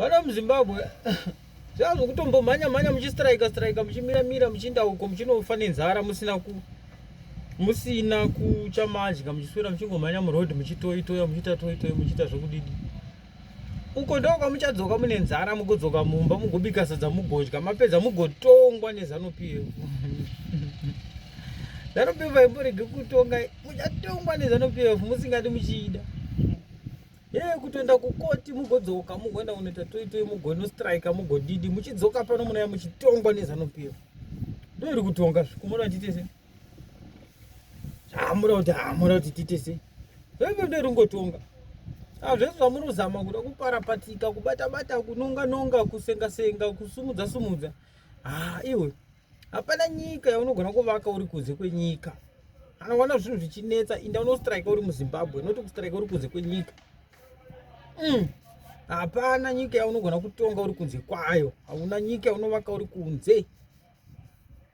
vana muzimbabwe zvaa zvokutombomhanya mhanya muchistrika strika muchimira mira muchiinda uko muchinofa nenzara musina ku musina kuchamadya muchiswera muchingomhanya muroad muchitoitoya muchiita toitoya muchiita zvokudidi uko ndo kwamuchadzoka mune nzara mugodzoka mumba mugobika sadza mugodya mapedza mugotongwa nezanupf zanupf haimborege kutonga muchatongwa nezanupf musingati muchiida Hey, kutoenda kukoti mugodzoka mugoenda kunoita toitoi mugonostrika mugodidi muchidzoka pano munaya muchitongwa nezanupiro ndo iri kutonga zvikumoda titese zvamuda kuti hamuda kuti titese zvaive ndo iri kungotonga hazvese zvamuri kuzama kuda kuparapatika kubatabata kunonganonga kusengasenga kusimudza sumudza ha ah, iwe hapana nyika yaunogona kuvaka uri kunze kwenyika kana ukaona zvinhu zvichinetsa inda unostrike uri muzimbabwe noti kustrike uri kunze kwenyika mm. hapana nyika yaunogona kutonga uri kunze kwayo hauna nyika yaunovaka uri kunze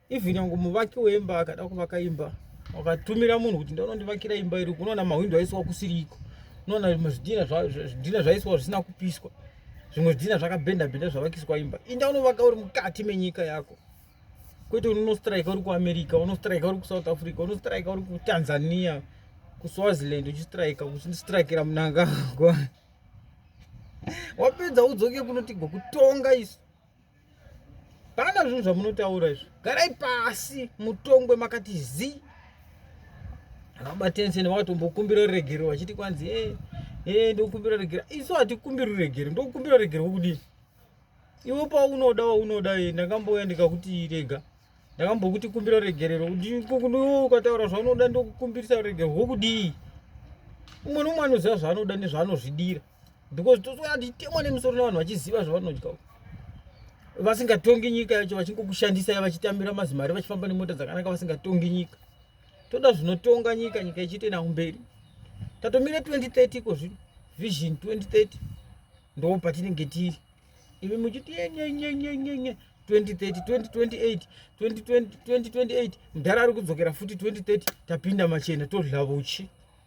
even yangu muvaki wemba akada kuvaka imba wakatumira munhu kuti ndaunondivakira imba iri unoona mahwindo aisiwa kusiriko unoona zvidhina zvaisiwa zvisina kupiswa zvimwe zvidhina zvakabhenda bhenda zvavakiswa imba inda unovaka uri mukati menyika yako kwete unostrika uri kuamerica unostrika uri kusouth africa unostrika uri kutanzania kuswaziland uchistrika uchistrikira munangagwa wapedza udzoke kunotigwa kutonga isu Pana zvinhu zvamunotaura izvo. Garai pasi mutongwe makati zi. Vabatense nevatombokumbira ruregero vachiti kwanzi eh eh ndokumbira ruregero. Isu hatikumbira ruregero, ndokumbira ruregero wokudini? Iwe paunoda waunoda eh ndakambouya ndikakuti rega. Ndakambokuti kumbira ruregerero. Ukataura zvaunoda ndokukumbirisa ruregero wokudii? Umwe nomwe anoziva zvaanoda nezvaanozvidira. because tozoona kuti itemwa nemusoro navanhu vachiziva zvavanodya vasingatongi nyika yacho vachingokushandisai vachitambira mazimari vachifamba nemota dzakanaka vasingatongi nyika toda zvinotonga nyika nyika ichiite nawo mberi tatomira 2030 iko zvino vision 2030 ndo patinenge tiri imi muchiti yenyenyenyenyenye 2030 2028 mudhara ari kudzokera futi 2030 tapinda machena todla vuchi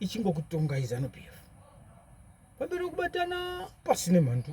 ichingokutongai zanu pf pamberi wekubatana pasine mhandu